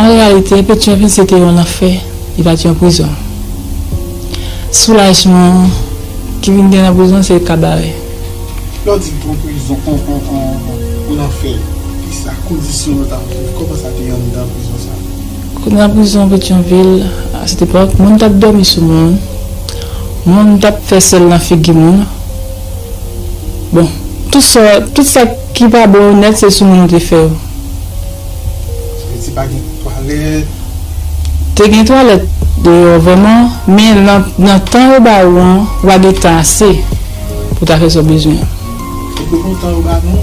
An reyalite, Petyonvil se te yon lanfè, li pa t yon prizon. Soulajman ki vin gen nan prizon se kabarè. Lè w di m pran prizon an lanfè, kisa, kondisyon yo t ap viv, kòman sa te anndan prizon sa a? Anndan prizon Petyonvil, a sèt epòk, moun t ap dòmi sou moun, moun t ap fè sèl nan figi moun. Bon, tout sa ki pa bon yo nèt se sou moun yo te fè yo. Haiti pa gen twalet. Te gen twalèt deyò vrèman men nan tan yo ba ou an ou pa gen tan ase pou ta fè sa w bezwen an. Se pou nou tan yo ba nou.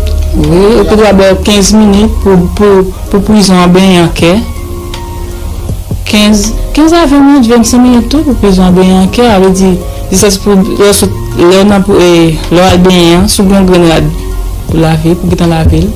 Wi yo pou ta ba w 15 minit pou prizon an benyen an kè 15 a 20 minit 25 minit tou pou prizon an benyen an kè a vle di jiskas pou lè w sot lè w nan lè w al benyen an si w gen yon grenn rad pou lave pou w gen tan lave l.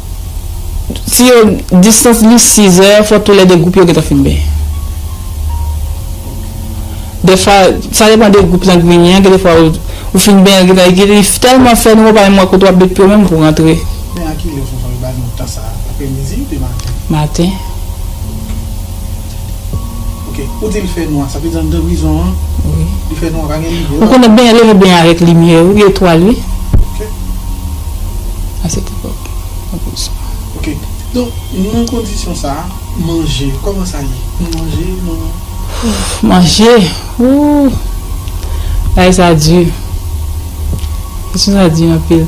Si yo distans li 6 zè fò tou lè 2 gwoup yo gentan fin benyen. Dèfwa sa depan de gwoup lan k vini an gen de fwa ou fin benyen li gentan li tèlman fè nou ou pa menm wè kote wap met pye w menm pou w rantre. Men a kilè Fonfon yo ba nou tan sa a aprè midi ou byen maten? Maten. Ou konnen byen lè li byen avèk limyè wi etwal wi a sèt epòk nan pozisyon manje ooh bagay sa di kesyon sa di anpil.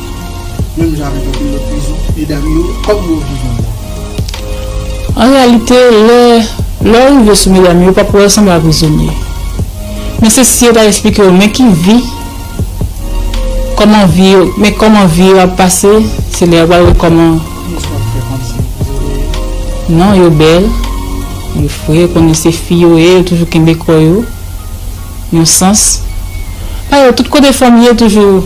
Menm jan avèk anpil lòt prizon, medam yo kòm mò vivan mò vivan. An reyalite, lè lè w rive sou medam yo, w p ap wè yo sanble a prizonye. Men se si yo ta esplike w men ki vi, kòman vi yo, men kòman vi yo ap pase, se lè a w pral wè kòman. Mous w ap fè kòmsi yo prizonye. Non, yo bèl, yo fre, w konnen se fi yo ye, yo toujou kenbe kò yo, yon sans. Pa yo, tout kote fanm ye toujou.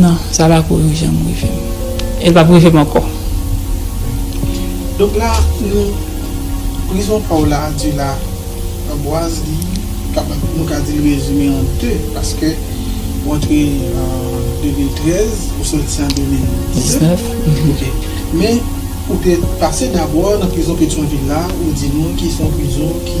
Non, sa pa ko janm rive m. E l pap rive m ankò. Donk la, nou, prizon pa w la a di la, anbwaz li kapab, nou ka di l rezime an 2, paske ou antre an 2013, ou soti an 2019, ok. Men, ou te pase dabò nan prizon Petyonvil la, ou di nou ki se yon prizon ki.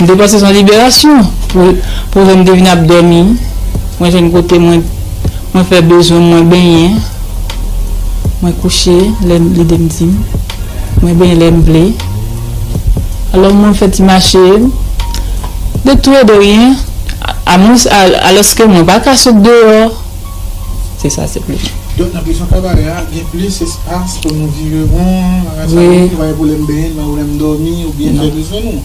M te panse se yon liberasyon pou jèn te vin ap dòmi, mwen jwenn kote mwen fè bezwen m, mwen benyen, mwen kouche lè lide m di m, mwen benyen lè m vle. Alò mwen fè ti mache de tou e de ryen alòske mwen pa ka sot deyò. Se sa se plis. Donk nan prizon Kabarè a gen plis espas pou nou vire won, mwen ka sot deyò, mwen pa gen pwoblèm benyen, mwen ka sot deyò, mwen ka dòmi oubyen fè bezwen nou.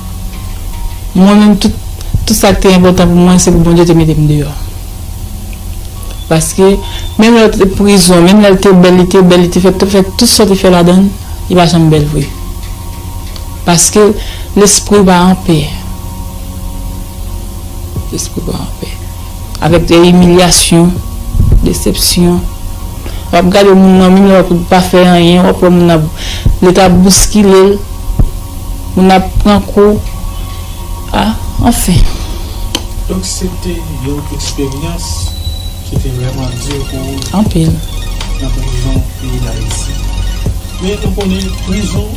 Mwen menm tout tout sa ki te enpòtan pou mwen se pou Bondye te mete m deyò. Paske menm lè l te prizon, menm lè l te bèl, li te bèl, li te fè fè tout sa w te fè ladan l, li pa janm bèl vre. Paske lespri pa anpè. Lespri pa anpè. Avèk imilyasyon, desepsyon, w ap gade moun nan menm lè w ap wè li pa fè anyen, w ap wè moun nan leta ap bouskile l, moun nan ap pran kou, a, anfen. Donk se te yon eksperyans ki te vrèman di pou ou? Anpil. Nan prizon peyi Dayiti. Men nou konnen prizon.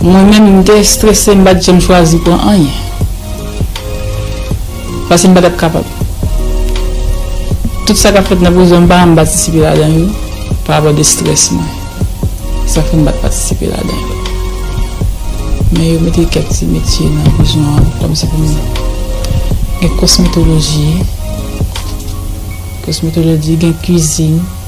Mwen menm m te estrese m pat janm chwazi pran anyen paske m patap kapab tout sa kap fèt nan prizon m pa janm patisipe ladan yo pa rapò de strès mwen sa fèm pat patisipe ladan yo men yo mete kèk ti metye nan prizon an kòmsi pou m gen kosmetoloji kosmetoloji gen kwizin.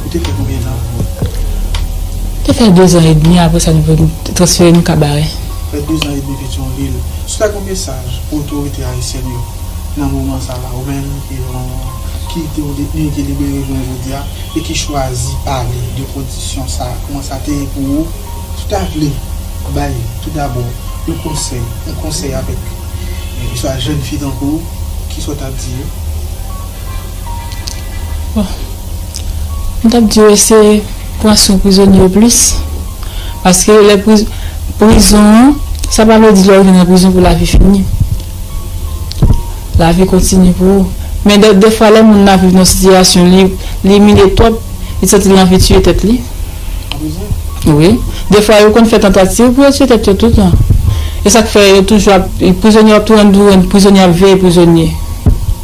Ou te fè konbyen tan pou ou te fè? Te fè de zan edmi apre sa nou transfere nou Kabarè. Fè de zan edmi Petyonvil. Sou ta gen yon mesaj pou otorite ayisyèn yo nan moman sa la ou menm ki yon ki te yon detni ki libere jounen jodi a e ki chwazi pale de kondisyon sa a kouman sa te ye pou ou si w ta vle bay tou dabò yon konsèy yon konsèy avèk yon swa jèn fi tankou ou ki sa w ta di yo? M tap diw eseye pran swen prizonye yo plis, paske lè prizon an, sa pa vle di lè ou vin nan prizon pou lavi fini, lavi kontinye pou ou, men dèfwa lè moun nan viv nan sitiyasyon li imilye twòp, li santi l anvi tiye tèt li, wi, dèfwa yo konn fè tantativ pou yo tiye tèt yo toutan, e sak fè yo toujou ap, prizonye yo ap toujou rann prizonye ap veye prizonye.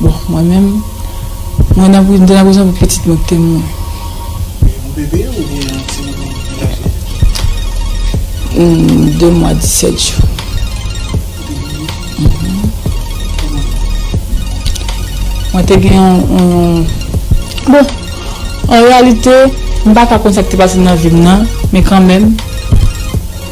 Bon, mwen menm, mwen nan pri, m te nan prizon pou pitit mwen ki te mouri. Yon bebe oubyen yon ti moun ki laje? Humm, 2 mwa 17 jou. Mwen te gen yon, bon, an reyalite, m pa ka konn sa ki te pase nan vi m nan, men kanmenm,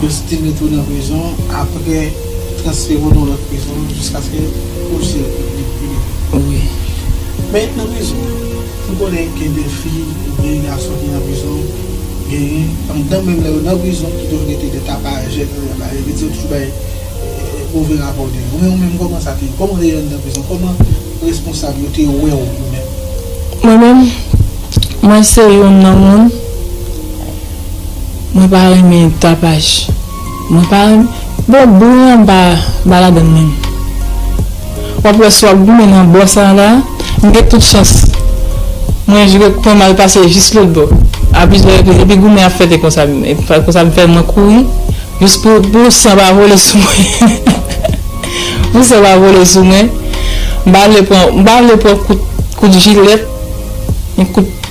Yo site met ou nan prizon apre transfere w nan lòt prizon jiskaske ou se libere. Wi. Men nan prizon an, m konnen gen de fi oubyen gason ki nan prizon, genyen pandan menm lè yo nan prizon ki toujou rete de tapajè ke yo ap bay, yo rete yo toujou bay move rapò de yo. Men ou menm kòman sa te ye? Kòman ou te ye anndan prizon? Kòman responsab yo te wè w ou menm? Mwen menm, mwen se youn nan moun. Mwen pa renmen tapaj. Mwen pa renmen. Bon bouyi an mpa mpa ladann menm. Wap wè si wap goumen nan bò sa la. M gen tout chans mwen jwe pwen mal pase jis lotbò. Api jwe api epi goumen ap fèt e konsa konsa m fè mwen kouri jis pou pou san pa vole sou mwen. Pou san pa vole sou mwen. M pa vle pran m pa vle pran kout kout jilèt ni kout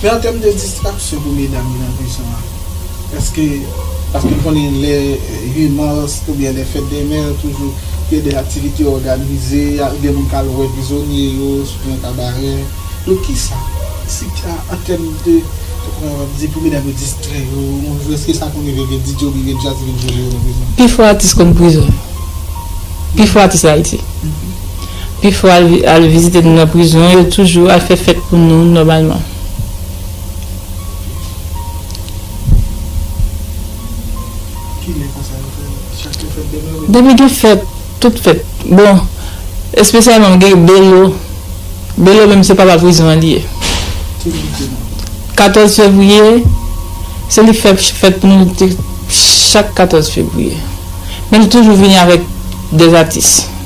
Men an tèm de distraksyon pou medam yo nan prizon an, èske, paske n konnen lè 8 mars oubyen lè fèt dè mè toujou gen de aktivite yo òganize, gen moun k al wè prizonye yo sou yon kabarè, donk kisa si ta an tèm de pou medam yo distrè yo yon jou, èske sa konn rive gen DJ oubyen gen djaz ki vin jwe pou yo nan prizon? Pi fò atis konn prizon yo, pi fò atis Ayiti. Pi fò al vizite nou nan prizon yo toujou al fè fèt pou nou nòmalman. Depi gen fèt, tout fèt. Bon, espesyalman gen Belo. Belo menm se papa prizon an li ye. 14 fevriye, se li fè fèt pou nou chak 14 fevriye. Men li toujou vini avèk 2 atis.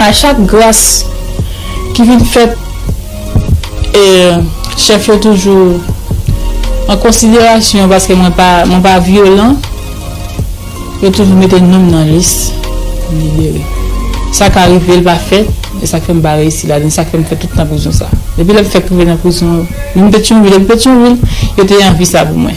A chak gras ki vin fèt e chèf yo toujou an konsiderasyon paske mwen pa mwen pa vyolan yo toujou mete nom nan lis libere sa ka rive l pa fèt e sak fè m pa reyisi ladan l sak fè m fè tout tan prizon sa depi lè m fèk rive nan prizon vin petyonvil depi petyonvil yo te anvi sa pou mwen.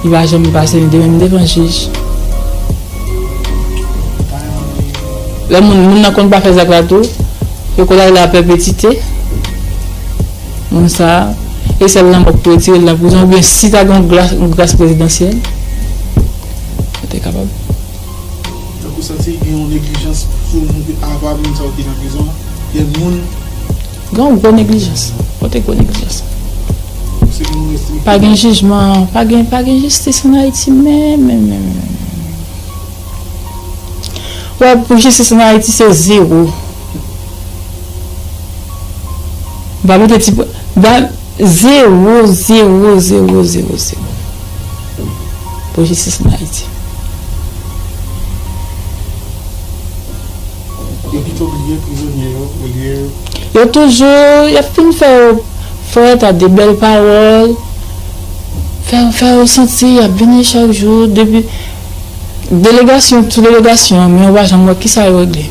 Li pa janm pase m 2 menm devan jij. Lè moun moun nan konn pa fè zak la tou, yo konn ale a pèpetite. Moun sa, e sèl lanmò k pou retire l nan prizon oubyen si ta gen yon gras prezidansyèl, yo te kapab. Donk ou santi gen yon neglijans sou moun ava moun sa yo ki nan prizon an? Gen moun Gen yon gwo neglijans. Kote gwo neglijans la? Pa gen jijman, pa gen jistis an Ayiti menm menm menm menm menm menm. Wè pou jistis an Ayiti se zewo. M pa mete ti pwen. Zewo, zewo, zewo, zewo, zewo. Pou jistis an Ayiti. Yo pito bliye prizonye yo olye. Yo toujou yap fin fè yo fret a de bel pawol fè yo fè yo santi yap vini chak jou depi delegasyon sou delegasyon men yo pa janm wè kisa yo regle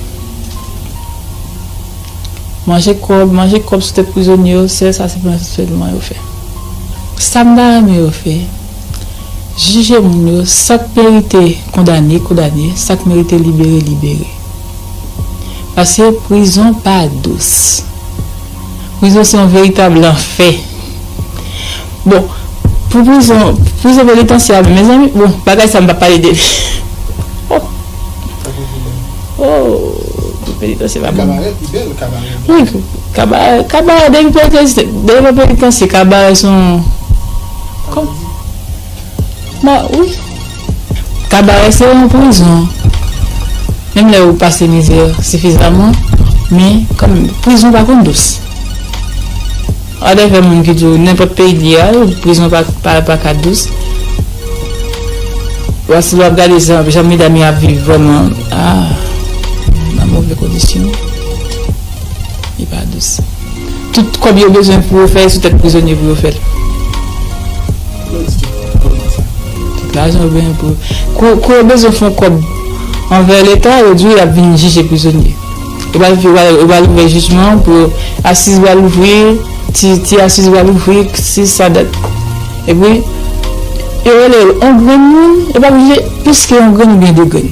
manje kob manje kob sou tet prizonye yo sel sa se pran sèlman yo fè sam ta renmen yo fè. Jije moun yo, sa k merite kondane kondane, sa k merite libere libere. Pase prizon pa dous. Prizon se yon veritab lanfè. Bon, pou prizon, prizon penitansye a menm, mezanmi, bon, bagay sa m p ap pale de li. Oh! Oh! Pou penitansye pa bon. Kabarè pi bèl kabarè blan. Wi, kabarè, kabarè depi penitansye, depi nan penitansye kabarè se yon. Kabarè se yon prizon, menm lè ou pase mizè sifizaman, men kanmenm prizon pa konn dous. Wap gen kèk moun ki di w nenpòt peyi li ye al, prizon pa ka dous. Paske lè wap gade jan medam yo ap viv vrèman, nan move kondisyon, li pa dous. Tout kob yo bezwen pou yo fè e sou tèt prizonye pou yo fèl. Politik pou politik. Tout lajan yo bezwen pou yo. Kou yo bezwen fon kob anvè leta yo di yo yap vin jije prizonye. Yo pral yo pral ouvè jijman pou yo asiz pral ouvri ti asiz pral ouvri si sa dat. Epi yo rele yo on grenn moun yo pap jije plis ke on grenn oubyen de grenn.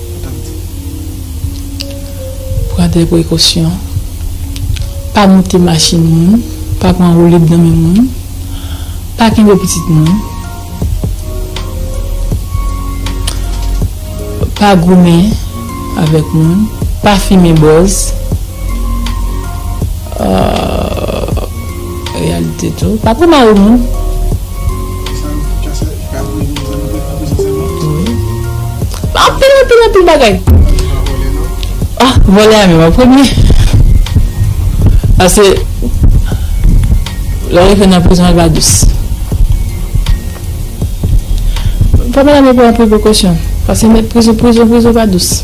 Pran de prekosyon. Pa moute machin moun, pa pran woulib nan men moun, pa kenbe pitit moun, pa goumen avèk moun, pa fimen bòz, pa pran mari moun. Anpil anpil anpil bagay. Ah, vole a menm an premye. Ase, lò yon fè nan prizon al ba dous. Fòm an la menm pou anpil prekosyon. Pase met prizon prizon prizon ba dous.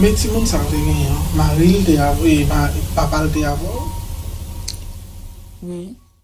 Men timoun sa te gen yon maril te avèl papal te avèl wi.